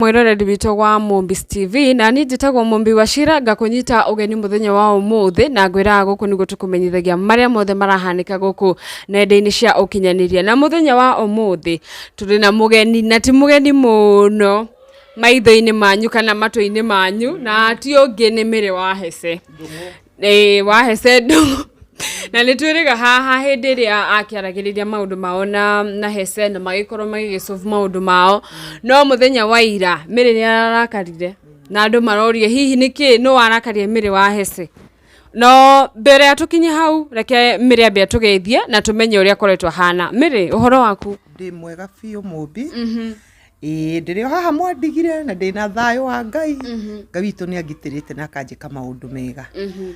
mwĩroreri witũ wa Mũmbis TV na niĩ njĩtagwo Mũmbi Wachira ngakũnyita ũgeni mũthenya wa ũmũthĩ na ngwĩraga gũkũ nĩguo tũkũmenyithagia marĩa mothe marahanĩka gũkũ nenda-inĩ cia ũkinyanĩria na mũthenya wa ũmũthĩ tũrĩ na mũgeni na ti mũgeni mũno maitho-inĩ manyu kana matũ-inĩ manyu na ti ũngĩ nĩ Mĩrĩ wa Hesse Ĩĩ wahe sendo na nĩ twĩrĩga haha hĩndĩ ĩrĩa akĩaragĩrĩria maũndũ mao na na he sendo magĩkorwo magĩgĩcovu maũndũ mao no mũthenya wa ira mĩrĩ nĩ arakarire na andũ maroria hihi nĩ kĩĩ nũ warakarire mĩrĩ wa hece no mbere ya tũkinye hau reke mĩrĩ ambe atũgeithie na tũmenye ũrĩa akoretwo ahana mĩrĩ ũhoro waku Ndĩ mwega biũ mũmbi. Ĩĩ ndĩrĩ o haha mwandigire na ndĩna thayũ wa ngai Mhm, ngai witũ nĩ angitĩrĩte na akanjĩka maũndũ mega mhm.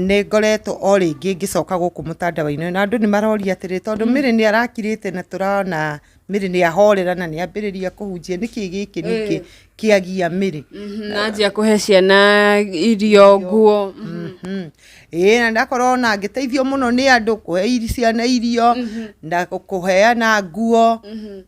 nĩ ngoretwo o rĩngĩ ngĩcoka gũkũ mũtandawa-inĩ ũyũ, na andũ nĩ maroria atĩrĩ tondũ mĩrĩ nĩ arakirĩte na tũrona mĩrĩ nĩ ahorera na nĩ ambĩrĩria kũhunjia nĩkĩ gĩkĩ ningĩ Eh. kĩagia mĩrĩ Mhm, na anjia kũhe ciana irio nguo Mhm. Mhm. ĩĩ na ndakorwo na ngĩteithio mũno nĩ andũ kũhe iri- ciana irio na kũheana nguo Mhm.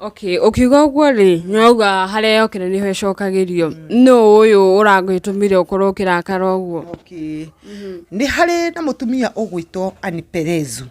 Okay, ũkiuga ũguo rĩ, nĩwauga harĩa yokĩra nĩho ĩcokagĩrio. Nũ ũyũ ũragĩtũmire ũkorwo ũkĩrakara ũguo? Okay. nĩ harĩ na mũtumia ũgwĩtwo Ann Perezu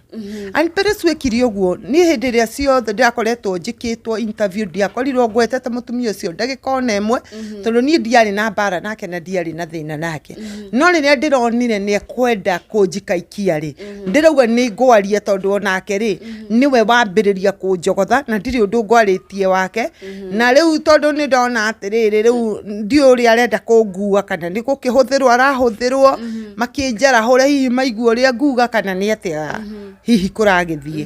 Ann Perezu ekire ũguo niĩ hĩndĩ ĩrĩa ciothe ndakoretwo njĩkĩtwo interview ndiakorirwo ngwetete mũtumia ũcio ndagĩka ona ĩmwe tondũ niĩ ndiarĩ na mbara nake na ndiarĩ na thĩna nake no rĩrĩa ndĩronire nĩ ekwenda kũnjika ikia rĩ ndĩrauga nĩ ngwaria tondũ onake rĩ mhm. nĩwe wambĩrĩria kũnjogotha na ndirĩ ũndũ ngwarĩtie wake mhm. na rĩu tondũ nĩ ndona atĩrĩrĩ rĩu ndiũ ũrĩa arenda kũngua kana nĩ gũkĩhũthĩrwo arahũthĩrwo mhm. makĩnjarahũre hihi maigua ũrĩa nguga kana nĩ atĩa hihi kũragĩthiĩ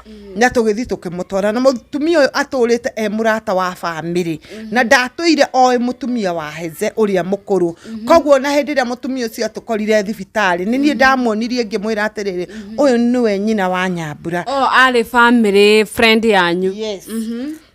mm. na tũgĩthiĩ tũkĩmũtwara na mũtumia ũyũ atũrĩte e mũrata wa bamĩrĩ mm-hmm. na ndatũire oĩ mũtumia wa heze ũrĩa mũkũrũ mm-hmm. koguo na hĩndĩ ĩrĩa mũtumia ũcio atũkorire thibitarĩ nĩ niĩ mm-hmm. ndamuonirie ngĩmwĩra atĩrĩrĩ ũyũ nĩwe nyina wa nyambura oh, arĩ bamĩrĩ friend yanyu yes. mm -hmm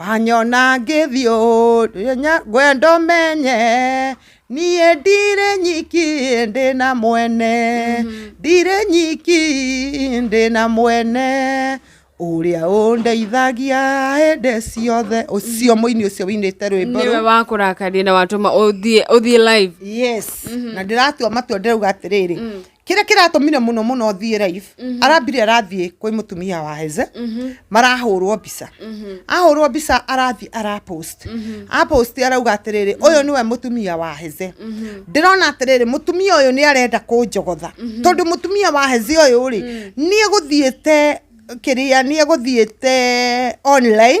Wanyona ngĩthiĩ ũũ ngwenda ũmenye niĩ ndirĩ nyiki ndĩ na mwene ndirĩ nyiki ndĩ na mwene ũrĩa ũndeithagia hĩndĩ ciothe ũcio mũini ũcio wĩinĩte rwĩmbo nĩwe rũu wakũrakaria na watũma ũthiĩ ũthiĩ live yes na ndĩratua matua ndĩrauga atĩrĩrĩ kĩrĩa kĩratũmire mũno mũno thiĩ live mhm. arambire arathiĩ kwĩ mũtumia wa heze mhm. marahũrwo mbica mhm. ahũrwo mbica arathiĩ arapost apost arauga atĩrĩrĩ ũyũ nĩwe mũtumia wa heze ndĩrona atĩrĩrĩ mũtumia ũyũ nĩ arenda kũnjogotha tondũ mũtumia wa heze ũyũ rĩ mm. nĩ egũthiĩte kĩrĩa nĩ egũthiĩte online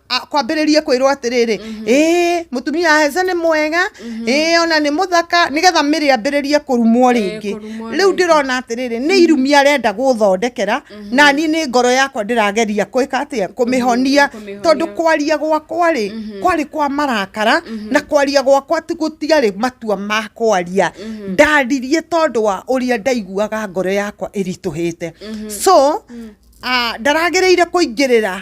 kwambĩrĩrie kwĩrwo atĩrĩrĩ mhm. ĩĩ mũtumia hece nĩ mwega mhm. ĩĩ ona nĩ mũthaka nĩgetha mĩrĩ ambĩrĩrie kũrumwo eh, rĩngĩ rĩu ndĩrona atĩrĩrĩ nĩ mhm. irumi arenda gũthondekera na niĩ nĩ ngoro yakwa ndĩrageria kwĩka atĩa kũmĩhonia tondũ kwaria gwakwa rĩ kwarĩ kwa marakara na kwaria gwakwa gũtiarĩ matua ma kwaria ndaririe tondũ wa ũrĩa ndaiguaga ngoro yakwa ĩritũhĩte so ah, ndaragĩrĩire kũingĩrĩra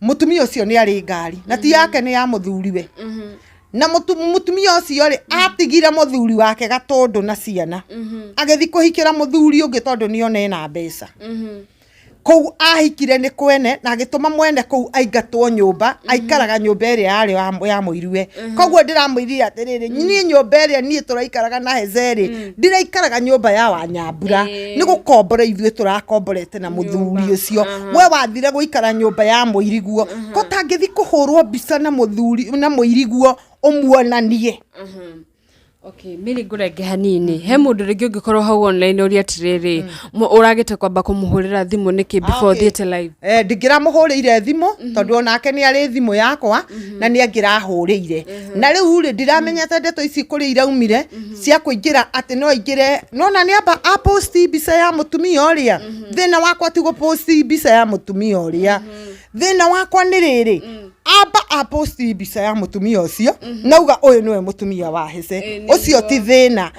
mutumia ucio ni ari ngari na ti yake ni ya muthuriwe Mhm. na mutu- mutumia ucio ri atigire muthuri wake gatundu na ciana Mhm. agithi kuhikira muthuri ungi tondu ni one na mbeca Mhm. kũu ahikire nĩ kwene na agĩtũma mwene kũu aingatwo nyũmba aikaraga nyũmba ĩrĩa yarĩ ya- ya mũiruwe koguo ndĩramwĩrire atĩrĩrĩ niĩ nyũmba ĩrĩa niĩ tũraikaraga na hezerĩ ndĩraikaraga nyũmba ya wanyambura Ĩĩ. nĩ gũkombora ithuĩ tũrakomborete na mũthuri ũcio we wathire gũikara nyũmba ya mũiriguo ko tangĩthi kũhũrwo mbica na mũthuri na mũiriguo ũmuonanie Mhm. Okay, nĩ rĩ ngũrenge hanini he mũndũ rĩngĩ ũngĩkorwo hau online ũria atĩrĩrĩ mm. ũragĩte kwamba kũmũhũrĩra thimũ nĩkĩ ah, before thiĩte live eh, ndingĩramũhũrĩire thimũ mm-hmm. tondũ onake nĩ arĩ thimũ yakwa mm-hmm. na nĩ angĩrahũrĩire mm-hmm. na rĩu rĩ ndiramenyete ndeto ici kũrĩa iraumire cia kũingĩra atĩ no aingĩre nona nĩ amba aposti mbica ya mũtumia ũrĩa thĩna wakwa ti gũposti mbica ya mũtumia ũrĩa thĩna wakwa nĩ rĩrĩ mm. amba aposti mbica ya mũtumia ũcio mm-hmm. nauga ũyũ nĩwe mũtumia wa hĩce eh, ũcio ti thĩna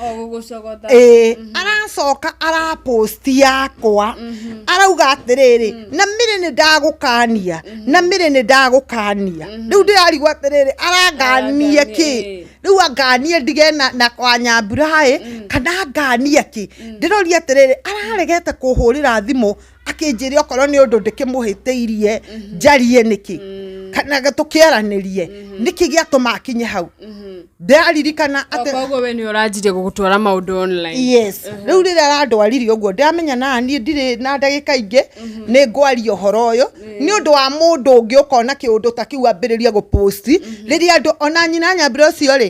eh, mm-hmm. aracoka araposti yakwa mm-hmm. arauga atĩrĩrĩ mm. na mĩrĩ nĩ ndagũkania na mĩrĩ nĩ ndagũkania rĩu ndĩrarigwo atĩrĩrĩ aranganie kĩ rĩu anganie ndige na kwa nyambura ĩ mm. kana anganie kĩ mm. ndĩroria atĩrĩrĩ araregete kũhũrĩra thimũ mm. akĩnjĩre okorwo nĩ ũndũ ndĩkĩmũhĩtĩirie mhm. njarie nĩkĩ mm. kana tũkĩaranĩrie mhm. nĩkĩ gĩatũma akinye hau mhm. ndaririkana koguo we nĩ ũranjirie gũgũtwara maũndũ online yes rĩu rĩrĩa arandwaririe ũguo ndamenya na niĩ ndirĩ na ndagĩka ingĩ nĩ ngwaria ũhoro ũyũ nĩ ũndũ wa mũndũ ũngĩ ũkona kĩũndũ ta kĩu ambĩrĩrie gũposti rĩrĩa andũ ona nyina nyambire ũcio rĩ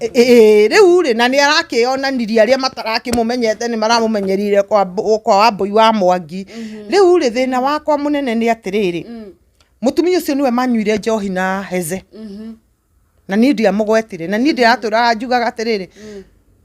Ĩĩ rĩu rĩ, na nĩ arakĩonanirie arĩa matarakĩmũmenyete nĩ maramũmenyereire kwa Mb- kwa wambũi wa mwangi rĩu rĩ thĩna wakwa mũnene nĩ atĩrĩrĩ mũtumia ũcio nĩwe manyuire njohi na heze na niĩ ndiamũgwetire na niĩ ndĩratũraga njugaga atĩrĩrĩ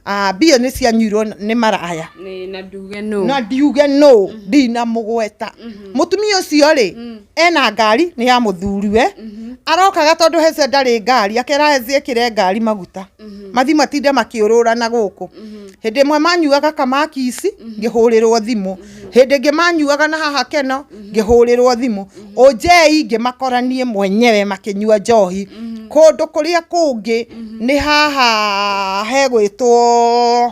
"Ah, mbia nĩ cianyuirwo nĩ maraya na nduge nũ na ndiuge nũ ndinamũgweta mũtumia ũcio rĩ ena ngari nĩ ya mũthuriwe mhm. arokaga tondũ hece ndarĩ ngari akera hece ĩkĩre ngari maguta mhm. mathi matinde makĩũrũrana gũkũ mhm. hĩndĩ ĩmwe manyuaga kamakisi ngĩhũrĩrwo thimũ hĩndĩ ĩngĩ manyuaga na haha keno ngĩhũrĩrwo thimũ ũnjei ngĩmakoranie mwenyewe makĩnyua njohi kũndũ kũrĩa kũngĩ nĩ haha hegwĩtwo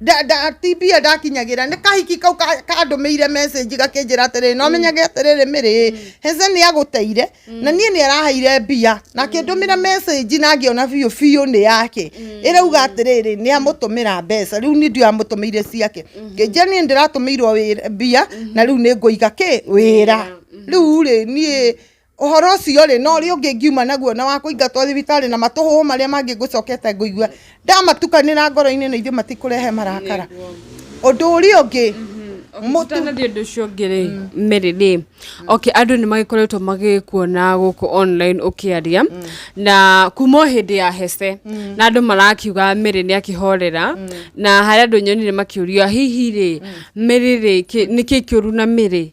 nda- nda- TB ndakinyagĩra nĩ kahiki kau ka- kandũmĩire message gakĩnjĩra atĩrĩ no menyage atĩrĩ mĩrĩ heze nĩ agũteire na niĩ nĩ araheire mbia na akĩndũmĩra message na ngĩona biũ biũ nĩ yake ĩrauga atĩrĩrĩ nĩ amũtũmĩra mbeca rĩu nĩ ndio amũtũmĩire ciake ngĩnjia niĩ ndĩratũmĩirwo wĩra- mbia na rĩu nĩ ngũiga kĩ wĩra rĩu rĩ niĩ Ũhoro ũcio rĩ, na ũrĩa ũngĩ ngiuma naguo na wa kũingatwo thibitarĩ na matũhũhũ marĩa mangĩ ngũcokete ngũigua ndamatukanĩra ngoro-inĩ na ithuĩ matikũrehe marakara. Ũndũ ũrĩa ũngĩ Tũtanathiĩ ũndũ ũcio ũngĩ rĩ Mary rĩ okay andũ nĩ magĩkoretwo magĩkuona gũkũ online ũkĩaria na kuma o hĩndĩ ya hece na andũ marakiuga Mary nĩ akĩhorera na harĩ andũ nyonire makĩũria hihi rĩ Mary rĩ kĩ- nĩ kĩĩ kĩũru na Mary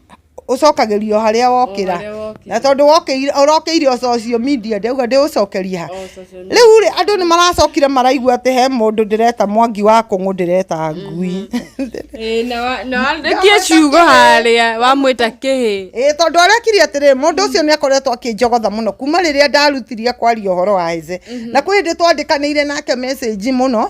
ũcokagĩrio harĩa wokĩra na tondũ ũrokĩire o social media ndĩrauga ndĩgũcokeria ha rĩu rĩ andũ nĩ maracokire maraigua atĩ he mũndũ ndĩreta mwangi wa kũng'ũ ndĩreta ngui nĩkĩo ciugo harĩa wamwĩta kĩhĩ ĩĩ tondũ arekire atĩrĩ mũndũ ũcio nĩ akoretwo akĩnjogotha mũno kuma rĩrĩa ndarutirie kwaria ũhoro wa hĩze na kwĩ hĩndĩ twandĩkanĩire nake message mũno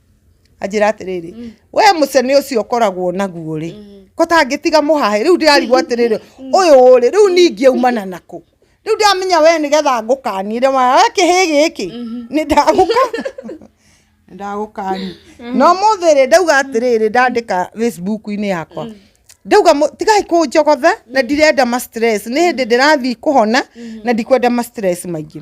anjĩra atĩrĩrĩ mm. we mũcene ũcio ũkoragwo naguo rĩ mm. ko tangĩtiga mũhahe rĩu ndĩrarigwo atĩrĩrĩ mm. ũyũ rĩ rĩu ningĩ umana nakũ rĩu ndamenya we nĩgetha ngũkanire wa kĩhĩ gĩkĩ mm-hmm. nĩ ndagũka ndagũkani mm-hmm. no mũthĩ rĩ ndauga atĩrĩrĩ ndandĩka facebook-inĩ yakwa mm. ndauga tigai kå njogotha na mm. ndirenda ma stress nä hä ndä ndä rathiä kå hona na ndikwenda ma stress maingä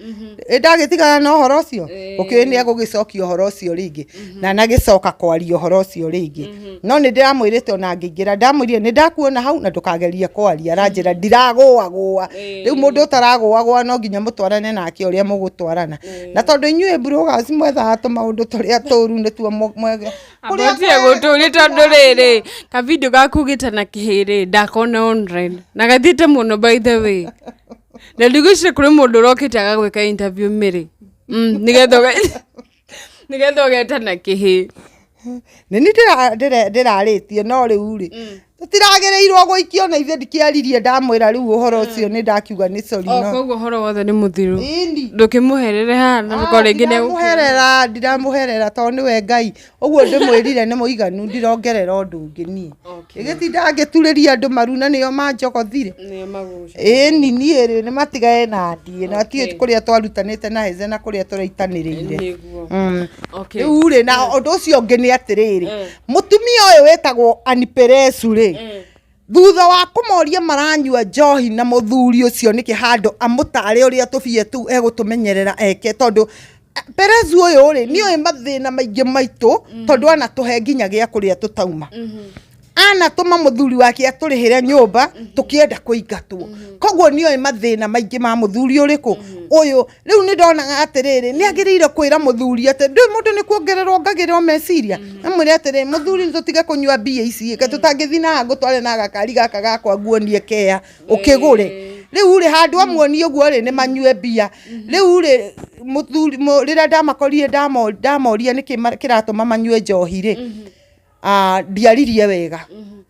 Mhm. Ĩ ndagĩtigana na ũhoro ũcio Ĩĩ. ũkĩũĩ nĩ egũgĩcokia ũhoro ũcio rĩngĩ na nagĩcoka kwaria ũhoro ũcio rĩngĩ no nĩ ndĩramwĩrĩte ona ngĩingĩra ndamwĩrire nĩ ndakuona hau na ndũkagerie kwaria aranjĩra ndiragũagũa Ĩĩ. rĩu mũndũ ũtaragũagũa no nginya mũtwarane nake ũrĩa mũgũtwarana na tondũ inyuĩ brugas mwethaga tũmaũndũ tũrĩa tũru nĩtuo mũ- mwege kũrĩa Abatie gũtũrĩ tondũ rĩrĩ kavidio gakugĩte na kĩhĩrĩ ndakona online na gathiĩte mũno by the way na ndigwĩcire kũrĩ mũndũ ũrokĩte agagwĩka interview mĩrĩ Mm, nĩgetha ũge- nĩgetha ũgeta na kĩhĩ nĩ ni ndĩrarĩtie no rĩu rĩ tũtiragĩrĩirwo gũikio na ithe ndikĩaririe ndamwĩra rĩu ũhoro ũcio nĩ ndakiuga nĩ sori o no koguo ũhoro wothe nĩ mũthiru Ĩni. ndũkĩmũherere haha na ndũkore rĩngĩ nĩ egũkĩra. ndiramũherera ndiramũherera tondũ nĩwe ngai ũguo ndĩmwĩrire nĩ mũiganu ndirongerera ũndũ ũngĩ niĩ ĩgĩtinda ngĩturĩria andũ maru na nĩo manjogothire ĩni niĩ rĩ nĩ matigae na ndiĩ na tiĩ kũrĩa twarutanĩte na heze na kũrĩa tũraitanĩrĩire mm. rĩu rĩ na ũndũ ũcio ũngĩ nĩ atĩrĩrĩ eh. mũtumia ũyũ wĩtagwo aniperesu rĩ eh. Thutha wa kũmoria maranyua njohi na mũthuri ũcio nĩkĩ handũ amũtare ũrĩa tũbia tũu egũtũmenyerera eke tondũ eh, Perezu ũyũ rĩ nĩ ũĩ mathĩna maingĩ maitũ mm. tondũ anatũhe nginya gĩa kũrĩa tũtauma mm-hmm. anatũma mũthuri wake atũrĩhĩre nyũmba mm-hmm. tũkĩenda kũingatwo mm-hmm. koguo nĩ ũĩ mathĩna maingĩ ma mũthuri ũrĩkũ ũyũ rĩu nĩ ndonaga atĩrĩrĩ nĩ agĩrĩire kwĩra mũthuri atĩ ndĩ mũndũ nĩ kuongererwo ngagĩrĩrwo meciria mm. amwĩre atĩrĩ mũthuri nĩ tũtige kũnyua mbia ici ke mm. tũtangĩthiĩ na ngũtware na gakari gaka gakwa nguonie kea ũkĩgũre rĩu rĩ handũ mm. amuonie ũguo rĩ nĩ manyue mbia mm-hmm. rĩu rĩ mũthuri rĩrĩa ndamakorire ndamoria nĩkĩ kĩratũma manyue njohi rĩ mm-hmm. ah, ndiaririe wega mm-hmm.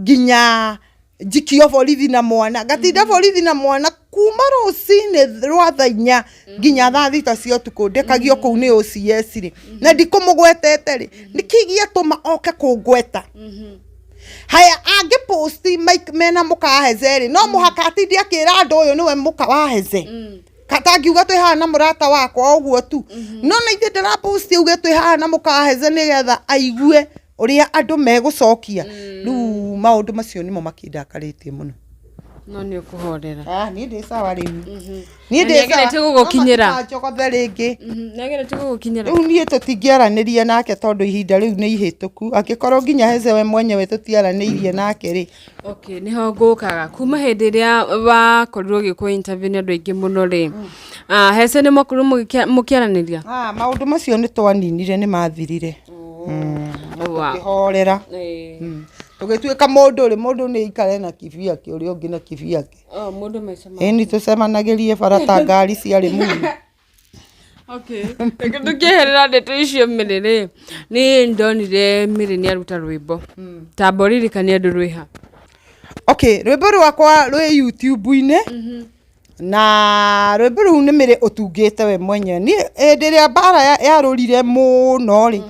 nginya njikio borithi na mwana ngatinda mm-hmm. borithi na mwana kuma rũcinĩ rwa tha inya mm-hmm. nginya tha thita cia ũtukũ ndĩkagio mm-hmm. kũu nĩ OCS rĩ na ndikũmũgwetete rĩ nĩkĩ gĩatũma oke kũngweta haya angä posti mena må ka waheze rä no må haka atindi akä ra andå å yå nä we må ka waheze mm katangiuga twä haha na må rata wakwa å guo tu mhm. no na ithe ndä raposti uge twä haha na må kaheze nä getha aigue ũrĩa andũ megũcokia rĩu maũndũ macio nĩmo makĩndakarĩtie mũno no nĩ ũkũhorera Ah, niĩ ndĩ sawa rĩu niĩ Na ndĩ nĩagerete sawa. gũgũkinyĩra. No matikajogothe rĩngĩ nagere tũgũgũkinyĩra rĩu niĩ tũtingĩaranĩria nake tondũ ihinda rĩu nĩ ihĩtũku angĩkorwo nginya hece we mwenyewe tũtiaranĩirie nake rĩ Okay, nĩho ngũkaga kuma hĩndĩ ĩrĩa wakorirwo ũgĩkwo interview nĩ andũ aingĩ mũno rĩ ah, hece nĩ mwakorirwo mũgĩkia- mũkĩaranĩria Ah, maũndũ macio nĩ twaninire nĩ mathirire Wa- kĩhorera tũgĩtuĩka mũndũ rĩ mũndũ nĩ aikare na kibi yake ũrĩa ũngĩ na kibi yake Oh, mũndũ maica ma- ĩni tũcemanagĩrie bara ta ngari ciarĩ muni Okay. Reke tũkĩeherera ndeto icio mĩrĩ rĩ nĩ ndonire mĩrĩ nĩ aruta rwĩmbo ta mboririkania andũ rwĩha okay rwĩmbo rwakwa rwĩ youtube-inĩ na rwĩmbo rũu nĩ mĩrĩ ũtungĩte we mwenyewe niĩ hĩndĩ ĩrĩa mbara ya- yarũrire mũno rĩ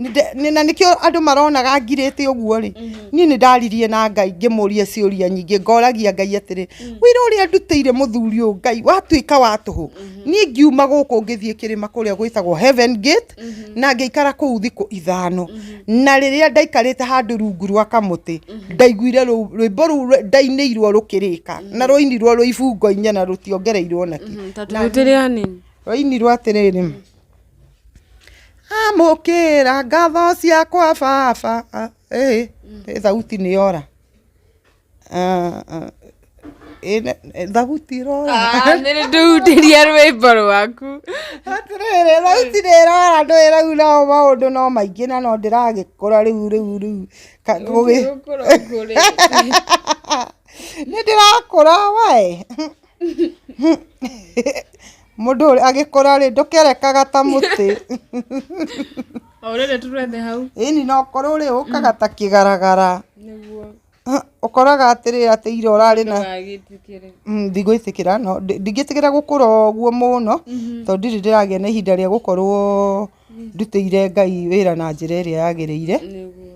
Nĩnde- nĩ- na nĩkĩo andũ maronaga ngirĩte ũguo rĩ niĩ nĩ ndaririe na ngai ngĩmũria ciũria nyingĩ ngoragia ngai atĩrĩ wĩra ũrĩa ndutĩire mũthuri ũyũ ngai watuĩka wa tũhũ niĩ ngiuma gũkũ ngĩthiĩ kĩrĩma kũrĩa gwĩtagwo heaven gate na ngĩikara kũu thikũ ithano na rĩrĩa ndaikarĩte handũ rungu rwa kamũtĩ ndaiguire rũ- rwĩmbo rũu rwe- ndainĩirwo rũkĩrĩka na rwainirwo rwĩ ibungo inya na rũtiongereirwo nakĩ Mhm, ta tũrutĩre anini rwainirwo atĩrĩrĩ amũkĩra ngatho ciakwa baba ĩhĩ ĩ thauti nĩ yora Ah, ah, ĩ ne- ĩ, thauti ĩrora nĩndĩhutĩria rwĩmbo rwaku atĩrĩrĩ thauti nĩ ĩrora ndũ ĩraura o maũndũ no maingĩ na no ndĩragĩkũra rĩu rĩu rĩu Ka- gũgĩ- nĩ ndĩrakũra wae Mũndũ ũrĩa agĩkũra rĩ ndũkerekaga ta mũtĩ. Orĩrĩ tũrethe hau. Ĩni no ũkorwo rĩ ũkaga ta kĩgaragara. Nĩguo. Ũkoraga atĩrĩ atĩ ira ũrarĩ na. Ndũgagĩtĩkĩre. Mm, Ndigwĩtĩkĩra no ndi- ndingĩtĩkĩra gũkũra ũguo mũno tondũ ndirĩ ndĩragĩa na ihinda rĩa gũkorwo ndutĩire Ngai wĩra na njĩra ĩrĩa yagĩrĩire. Nĩguo.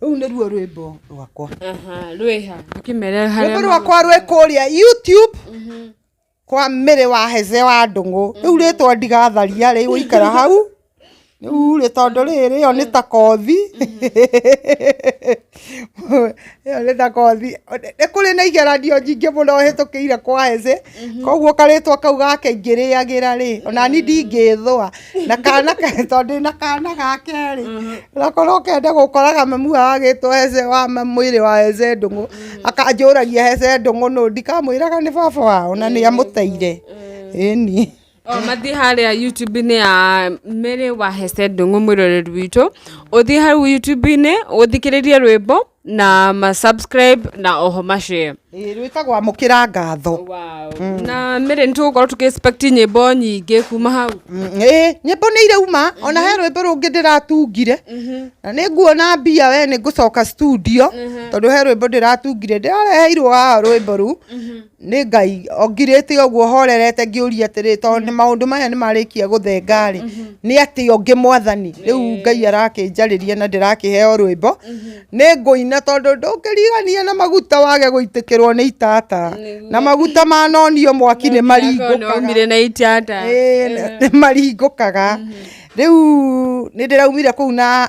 Rũu nĩruo rwĩmbo rwakwa. Aha, rwĩha. Akĩmere harĩa. Rwĩmbo rwakwa rwĩ kũrĩa YouTube mhm. kwa mĩrĩ wa heze wa ndũng'ũ. Mhm. Rĩu rĩtwa ndigatharia rĩ gũikara hau. Rĩu rĩ tondũ rĩrĩ ĩyo nĩ ta kothi. Mhm. Ĩyo nĩ ta kothi. Nĩ kũrĩ na igeranio nyingĩ mũno hĩtũkĩire kwa heze. Mhm. koguo karĩtwa kau gake ingĩrĩagĩra rĩ onani mm. ndingĩthwa na kana tondũ na kana gake rĩ mhm. nakorwo kenda gũkoraga mamu agagĩtwo hece wa mwĩrĩ wa hece ndũng'ũ mm. akanjũragia hece ndũng'ũ nũ ndikamwĩraga nĩ baba wao na nĩ amũteire ĩni Oh, mathiĩ harĩa YouTube-inĩ ya Mary Wahese Ndung'u mwĩroreri witũ ũthiĩ hau YouTube-inĩ ũthikĩrĩrie rwĩmbo na ma subscribe na oho ma share Ĩĩ, rwĩtagwo amũkĩra ngatho wow. na Mary nĩ tũgũkorwo tũkĩ expect nyĩmbo nyingĩ kuma hau Mm, ĩĩ nyĩmbo nĩ irauma ona he rwĩmbo rũngĩ ndĩratungire na nĩ nguona mbia we nĩ ngũcoka studio tondũ he rwĩmbo ndĩratungire ndĩrareheirwo haha rwĩmbo rũu Nĩ Ngai ongirĩte ũguo horerete ngĩũria atĩrĩ tondũ nĩ maũndũ maya nĩ marĩkia gũthenga rĩ nĩ atĩ ũngĩ mwathani rĩu Ngai arakĩnjarĩria na ndĩrakĩheo rwĩmbo nĩ ngũina tondũ ndũngĩrigania na maguta wage gũitĩkĩrwo nĩ itata na maguta manonio mwaki nĩ maringũkaga Omire na itata. Ĩĩ, nĩ maringũkaga rĩu nĩ ndĩraumire kũu na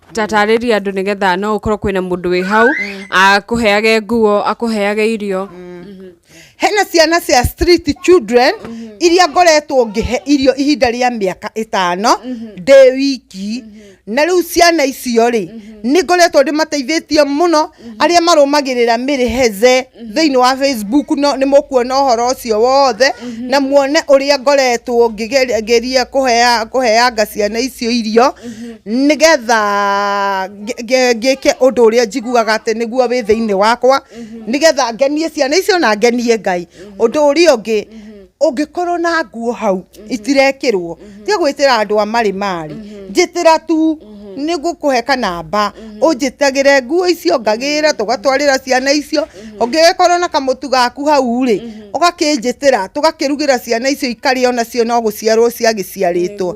tatarĩria andũ nĩgetha no ũkorwo kwĩna mũndũ wĩ hau akũheage nguo akũheage irio hena ciana cia street children iria ngoretwo ngĩhe irio ihinda rĩa mĩaka ĩtano ndĩ wiki na rĩu ciana icio rĩ nĩ ngoretwo ndĩmateithĩtie mũno arĩa marũmagĩrĩra Mary Heze thĩinĩ wa Facebook no nĩ mũkuona ũhoro ũcio wothe na muone ũrĩa ngoretwo ngĩgeria ngĩria kũhea- kũheanga ciana icio irio nĩgetha ngĩ- ngĩ- ngĩke ũndũ ũrĩa njiguaga atĩ nĩguo wĩ thĩinĩ wakwa nĩgetha ngenie ciana icio na ngenie Ngai. Ũndũ ũrĩa ũngĩ ũngĩkorwo na nguo hau mhm. itirekĩrwo mhm. tiga gwĩtĩra andũ a marĩ marĩ mhm. njĩtĩra tu nĩ ngũkũhe kanamba ũnjĩtagĩre nguo icio ngagĩra tũgatwarĩra ciana icio ũngĩgĩkorwo na kamũtu gaku hau rĩ ũgakĩnjĩtĩra tũgakĩrugĩra ciana icio ikarĩa onacio no gũciarwo ciagĩciarĩtwo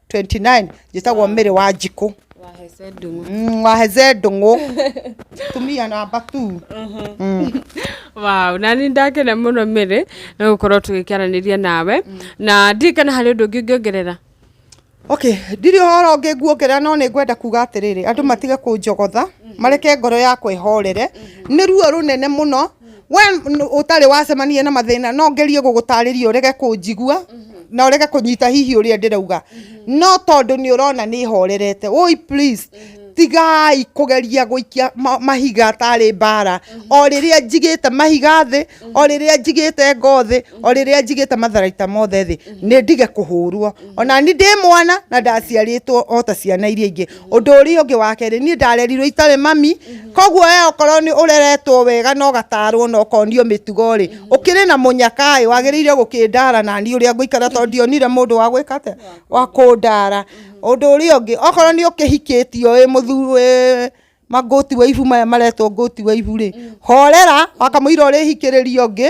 29 njĩtagwo mĩrĩ wa njikũ wahece ndung'u Mm, waheze ndũng'ũ tumia namba tu wow na nĩ ndakena mũno mĩrĩ nĩ gũkorwo tũgĩkĩaranĩria nawe na ndirĩ kana harĩ ũndũ ũngĩ ũngĩongerera okay ndirĩ ũhoro ũngĩ nguongerera no nĩ ngwenda kuga atĩrĩrĩ andũ matige kũnjogotha mareke ngoro yakwa ĩhorere nĩ ruo rũnene mũno we n- ũtarĩ wacemania na mathĩna no ngerie gũgũtarĩria ũrege kũnjigua na ũrege kũnyita hihi ũrĩa ndĩrauga no tondũ nĩ ũrona nĩ horerete ũi please tigai kũgeria gũikia ma- mahiga tarĩ mbara o rĩrĩa njigĩte mahiga thĩ o rĩrĩa njigĩte ngo thĩ o rĩrĩa njigĩte matharaita mothe thĩ nĩ ndige kũhũrwo ona ni ndĩ mwana na ndaciarĩtwo o ta ciana iria ingĩ Ũndũ ũrĩa ũngĩ wa kerĩ niĩ ndarerirwo itarĩ mami koguo we okorwo nĩ ũreretwo wega na ũgatarwo na ũkonio mĩtugo rĩ ũkĩrĩ na mũnyaka ĩ wagĩrĩire gũkĩndara na niĩ ũrĩa ngũikara tondũ ndionire mũndũ wa gwĩka atĩa wa kũndara. Ũndũ ũrĩa ũngĩ okorwo nĩ ũkĩhikĩtio wĩ mũthuri wĩ ma goat wife maya maretwo goat wife rĩ horera wakamũira ũrĩhikĩrĩria ũngĩ.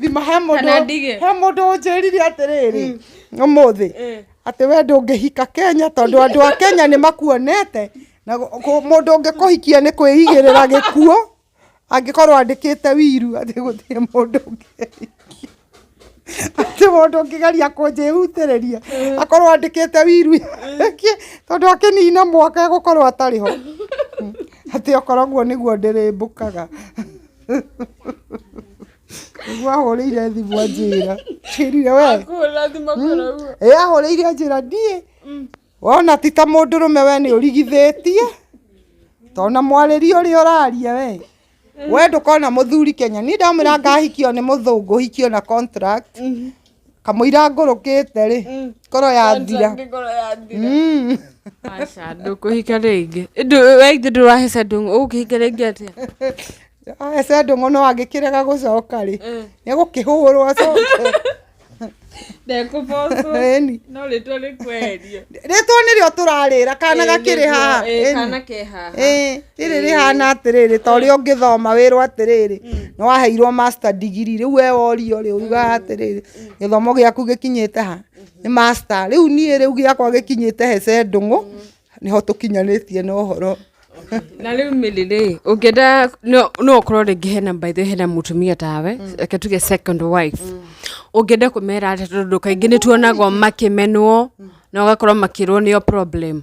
thima he Kana mũndũ ndige. he mũndũ ũnjĩrire atĩrĩrĩ ũmũthĩ atĩ we ndũngĩhika kenya tondũ andũ a kenya nĩ makuonete na gũ- gũ- mũndũ ũngĩkũhikia nĩ kwĩigĩrĩra gĩkuo angĩkorwo andĩkĩte wiru atĩ gũtirĩ mũndũ ũngĩhikia atĩ mũndũ ũngĩgeria kũnjĩhutĩrĩria akorwo andĩkĩte wiru yake tondũ akĩnina mwaka egũkorwo atarĩ ho atĩ okoragwo nĩguo ndĩrĩmbũkaga nĩguo ahũrĩire thimũ anjĩra kĩrire we Kũhũra thimũ kũrĩa ũguo. ĩ ahũrĩire anjĩra ndiĩ wona ti ta mũndũrũme we nĩ ũrigithĩtie tona mwarĩria ũrĩa ũraria we we ndũkona mũthuri kenya niĩ ndamwĩra ngahikio nĩ mũthũngũ hikio na contract kamũira ngũrũkĩte rĩ ngoro yathira ngoro yathira Mm. aca ndũkũhika rĩngĩ waithĩ ndũrahĩca ndũng'ũ ũgũkĩhika rĩngĩ atĩa ese ndũng'ũ no angĩkĩrega gũcoka rĩ nĩ gũkĩhũrwo acoke ndekũbocwo Ĩni. no rĩtwa rĩkweherio rĩtwa nĩrĩo tũrarĩra kana gakĩrĩ haha Ĩni. kana ke haha Ĩĩ. rĩrĩ rĩhana atĩrĩrĩ ta ũrĩa ũngĩthoma wĩrwo atĩrĩrĩ nĩ waheirwo master degree rĩu we worio rĩ ugaga atĩrĩrĩ gĩthomo gĩaku gĩkinyĩte ha nĩ master rĩu niĩ rĩu gĩakwa gĩkinyĩte he cendũng'ũ nĩho tũkinyanĩtie na ũhoro na rä u mä rä rä å ngä enda no å korwo rä ngä hena mbaithä hena må tumia tawe mm. reke tuge second wife mm. å ngä enda kå mera atä tondå kaingä nä tuonagwo makä menwo mm. na å gakorwo makä rwo nä o problem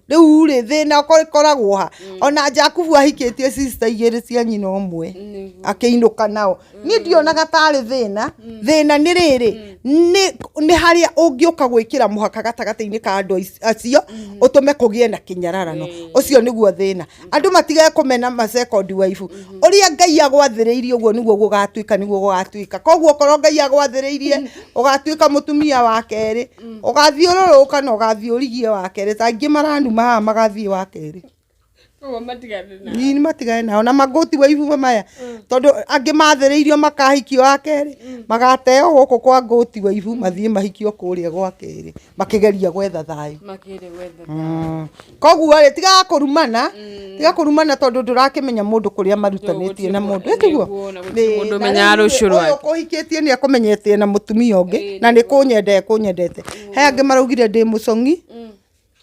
rĩu rĩ thĩna ũko- ũkoragwo ha ona jakubu ahikĩtie sister igĩrĩ cia nyina ũmwe akĩinũka nao niĩ ndionaga tarĩ thĩna thĩna nĩ rĩrĩ nĩ nĩ harĩa ũngĩũka gwĩkĩra mũhaka gatagatĩ-inĩ ka andũ aic- acio ũtũme kũgĩe na kĩnyararano ũcio nĩguo thĩna andũ matige kũmena ma second wife ũrĩa ngai agwathĩrĩirie ũguo nĩguo gũgatuĩka nĩguo gũgatuĩka koguo korwo ngai agwathĩrĩirie ũgatuĩka mũtumia wa kerĩ mm. ũgathiũrũrũka na ũgathiĩ ũrigie wa kerĩ ta aingĩ maranuma haha magathiĩ wa kerĩ nini matigane nao na magoti wa ibuba maya mm. tondå angä mathä makahikio wa kerä mm. magateo gå kå kwa ngåti wa ibu mathiä mahikio kå rä a gwa kerä makä geria gwetha thayå mm. koguo rĩ tigaga kũrumana tiga kũrumana tondũ ndũrakĩmenya mũndũ kũrĩa marutanĩtie na mũndũ ĩ tiguo Nĩguo, na gũtirĩ Ĩ, mũndũ na ũmenyaga rĩu rũciũ ũyũ rwake. kũhikĩtie nĩ akũmenyete na mũtumia ũngĩ na nĩ kũnyendete kũnyendete he angĩ maraugire ndĩ mũcong'i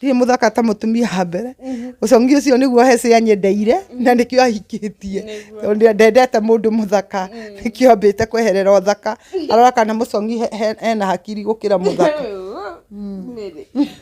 ndirĩ mũthaka ta mũtumia wa mbere ũcong'i ũcio nĩguo hece anyendeire na nĩkĩo ahikĩtie Tondũ ndendete mũndũ mũthaka nĩkĩo ambĩte kweherera ũthaka arora kana mũcong'i he- he- ena hakiri gũkĩra mũthaka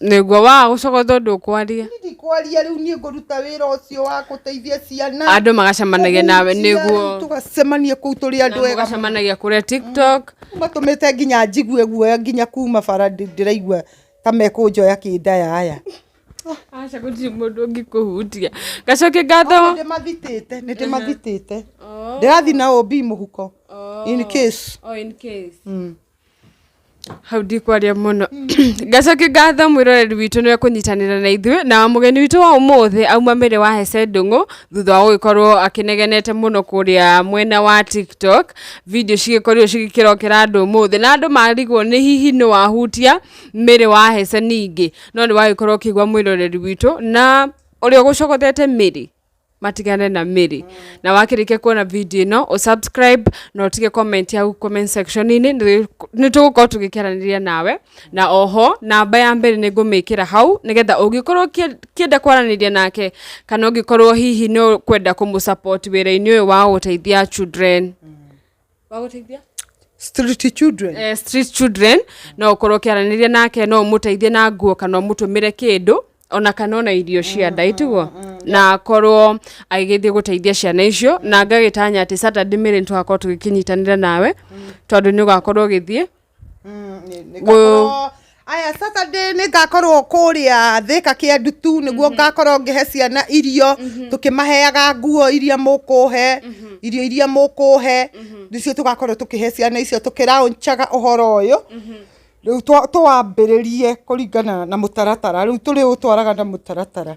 nĩguo waa gũcoka ũtho ndũkwaria Niĩ ndikwaria rĩu niĩ ngũruta wĩra ũcio wa gũteithia ciana andũ magacemanagia nawe Kũhunjia, nĩguo tũgacemania kũu tũrĩ andũ ega magacemanagia kũrĩa tiktok matũmĩte nginya njigue guoya nginya kuma bara ndĩ- ndĩraigua ta mekũnjoya kĩndayaya aca gũtirĩ mũndũ ũngĩkũhutia gacoke ngatho ndĩmathitĩte nĩ ndĩmathitĩte ndĩrathi na ũmbi mũhuko in case Oh, in case. Hau ndikwaria mũno. Ngacokia ngatho mwĩroreri witũ nĩ ekũnyitanĩra na ithuĩ, na mũgeni witũ wa ũmũthĩ auma mĩrĩ wa Hese Ndũng'ũ, thutha wa gũgĩkorwo akĩnegenete mũno kũrĩa mwena wa TikTok, video cigĩkorirwo cigĩkĩrokera andũ ũmũthĩ, na andũ marigwo nĩ hihi nũ wahutia mĩrĩ wa Hese ningĩ, no nĩ wagĩkorwo ũkĩgwa mwĩroreri witũ, na ũrĩa ũgũcogothete mĩrĩ. matigane na mĩrĩ na wakĩrĩkia kuona video ĩno ũ subscribe na ũtige comment yaku comment section inĩ nĩ nĩ tũgũkorwo tũgĩkĩaranĩria nawe na oho namba ya mbere nĩ ngũmĩkĩra hau nĩgetha ũngĩkorwo ũkĩ- ũkĩenda kwaranĩria nake kana ũngĩkorwo hihi nĩ ũkwenda kũmũ support wĩra-inĩ ũyũ wa gũteithia children wagũteithia street children eh, street children no ukorwo ukiaraniria nake no umuteithie na nguo kana umutumire kindu ona kana ona irio cia nda itiguo na korwo agĩgĩthiĩ gũteithia ciana icio na ngagĩtanya atĩ Saturday mĩrĩ nĩ tũgakorwo tũgĩkĩnyitanĩra nawe tondũ nĩ ũgakorwo ũgĩthiĩ Mm, nĩ- nĩ ngakorwo- aya saturday nĩ ngakorwo kũrĩa thĩka kĩa ndutu nĩguo ngakorwo ngĩhe ciana irio tũkĩmaheaga nguo iria mũkũhe irio iria mũkũhe nĩcio tũgakorwo tũkĩhe ciana icio tũkĩraũncaga ũhoro ũyũ rĩu twa- tũwambĩrĩrie kũringana na mũtaratara rĩu tũrĩũtwaraga na mũtaratara